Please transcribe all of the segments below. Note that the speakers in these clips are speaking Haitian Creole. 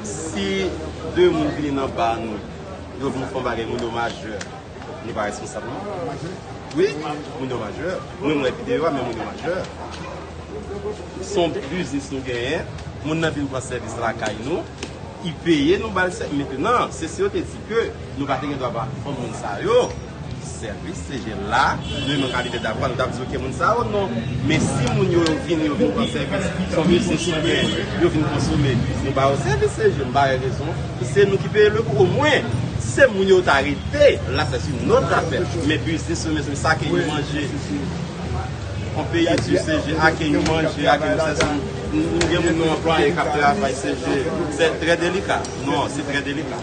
Si 2 moun vini nan bar nou, yo vin fon bagay, moun yo majè, nou pa responsab non. Wi, moun yo majè. Mwen m wè videyo a men moun yo majè. Son biznis nou genyen, moun nan vin pran sèvis lakay nou, li peye nou ba l sèvis. Mentnan, se si yo te di ke nou pa te gen dwa ba fon moun sa yo. Sèvis CG la, nou menm kalite dapwa nou tap di ok moun sa yo non men si moun yo yo vini yo vin pran sèvis son biznis nou gen yo vin konsome nou ba yo sèvis CG m pa wè rezon pou se nou ki peye le kou omwen si se moun yo ta rete la se si nou ta fè men biznis yo mezanmi sa ke nou manje on peye di CG a ke nou manje a ke nou sèso nou gen moun nou anplwaye kap travay CG se trè delika non se trè delika.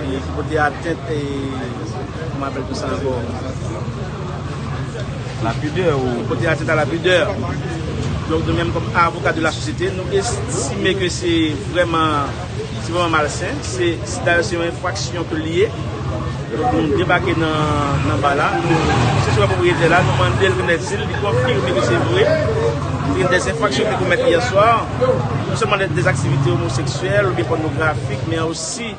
Ki pote atent e kòman apèl tou sa ankò? La pudè ou. Ki pote atent a la pudè. Donk nou menm kòm avoka de la sosyete nou estime ke se vrèman se vrèman malsen. Se dayè se yon enfraksyon ke li ye. Donk nou debake nan ba la. Nou sesyon a pwopriyete la. Nou mande l konèt si li konfime ke se vre. Gen dè enfraksyon ki te komèt yè swa. yo, non sèlman lè des aktivite omoseksyèl oubyen pònografik men osi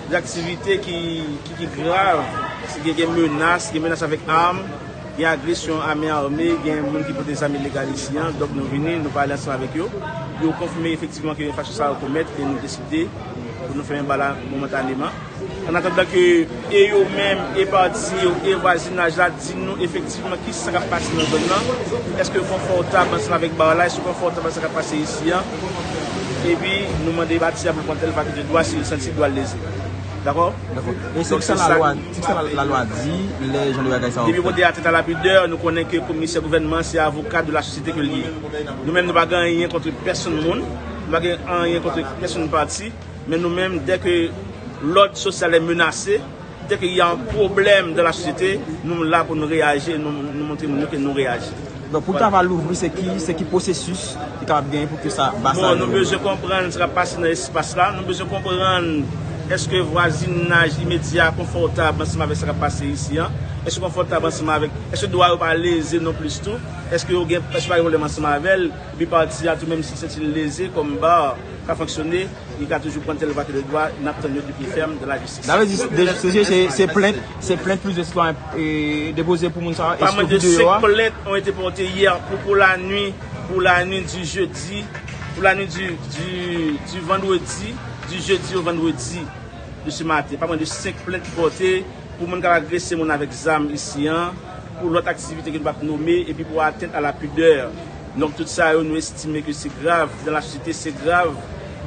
des aktivite ki grav, si gen gen menas, gen menas avèk arm, gen agresyon a men arme, gen moun ki pote zam ilegal isi an, donk nou vini, nou pale ansanm avèk yo, yo konfime efektivman ke enfraksyon sa yo komèt e nou deside pou nou fèmen bal la momentaneman. An atandan ke e yo menm, e pati yo, e vwazinaj la di nou efektivman ki sa k ap pase nan zòn nan, èske yo konfòtab ansanm avèk bar la, èske yo konfòtab ak sa k ap pase isi an, epi nou mande a ti a pou l pran tèl vakite dwa si l santi dwa l leze. Dakò? Dakò. E se ki sa lalwa, se ki sa lalwa di lè jan de bagay sa yo fèt? Depi kote atentat a la pidè, nou konnen ke komisè gouvènman an se avoka de la sosyete ke l ye. Nou menm nou pa gen anyen kontre pèsonn moun, nou pa gen anyen kontre pèsonn pati, Men nou menm dè ke lòd sosyal è menase, dè ke y a un pwoblèm dan la sosyete, nou la pou nou reyaji, nou montre moun yo ke nou reyaji. Donk pou travay louvri se ki, se ki pwosesis ki kapab genyen pou ke sa ba sa. Bon, nou bezwen konprann sa kap pase nan espas la, nou bezwen konprann eske vwazinaj imedya a konfòtab ansanm avèk sa kap pase isi an, eske yo konfòtab ansanm avèk, eske dwa yo pa leze non plis tou, eske yo gen, eske pa gen pwoblèm ansanm avèl, epi pati a tou menm si sèti l leze kòm bar. ka fonksyone, li ka toujou pran tel vwa tel vwa, nap tann yo pi pi fèm dan la jistis. Sa vle di se plent, se plent plizyè sitwayen depoze pou moun sa yo? Pa mwen de 5 plent ont ete porte yè pou pou la nwi, pou la nwi di jedi, pou la nwi di vandredi, di jedi ou vandredi de se maten. Pa mwen de 5 plent porte pou moun kap agrese moun avèk zam isi an, pou lòt aktivite ke nou pap nome, epi pou atent a la pudeur. Nonm tout sa yo nou estime ke se grav dan la sosyete, se grav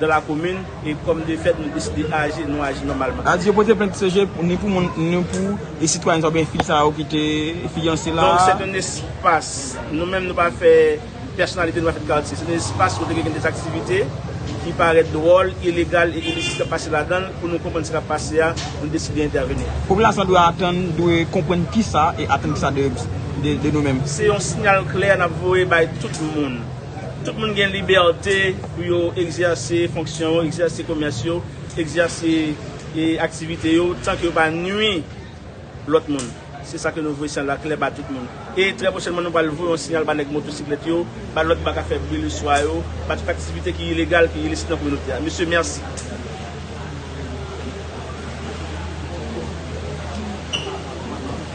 dan la komin, e kòm de fèt nou deside aji, nou aji nòmalman. Adi yo pote plent CG ni pou moun ni pou e sitwayen sa ou byen fi sa yo ki te fiyanse la. Donk sèt yon espas, nou menm nou pa fè pèsonalite nou pa fè katye, sèt yon espas kote gen dèz aktivite ki parèt dwòl, ilegal e ilisit k ap pase ladan l, pou nou konprann sa k ap pase a, nou deside entèveni. Popilasyon dwe atann, dwe konprann kisa e atann kisa de. de nou menm. Se yon sinyal klè n ap voye bay tout moun. Tout moun gen libète pou yo egzèse fonksyon yo, egzèse komès yo, egzèse aktivite yo tanke yo pa nui lòt moun. Se sa ke nou voye sinyal la klè ba tout moun. E trè pwochènman nou pral voye yon sinyal ba nèg motosiklèt yo, ba lòt bak a fè bri le swa yo, ba tout aktivite ki ilegal, ki ilisit nan kominote a. Mesye, mèsi.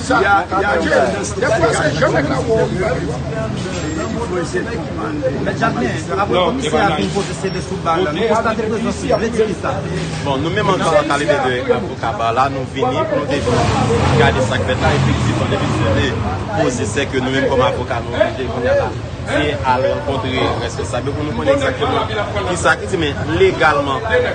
Sa Yaya gen dèfwa se jan nèg la wè w li bay vwa. Mèt Jakmèl, apre komisè a fin poze CD sou bar la, nou konstate prezans li, vle di kisa? Bon, nou menm ankò an kalite de avoka bar la, nou vini pou nou te vini gade sa k fèt la, efektivman depi CD poze se ke nou menm kòm avoka nou oblije kounya la te al rankontre rèsponsab yo pou nou konnen egzakteman kisa ki di men legalman.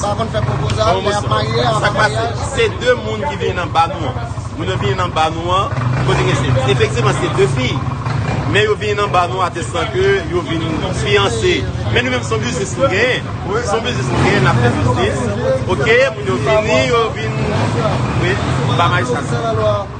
Sa konn fè pwopozal lè yap marye avan maryaj. Sak pase se 2 moun ki vini nan ba nou an. Moun yo vini nan ba nou an. Kote ke se. Efektivman se 2 fi. Men yo vini nan ba nou an atestan ke yo vini fiyanse. Men nou menm son biznis nou genyen. Son biznis nou genyen nap fè biznis. Ok moun yo vini yo vini. Wi ba majistra.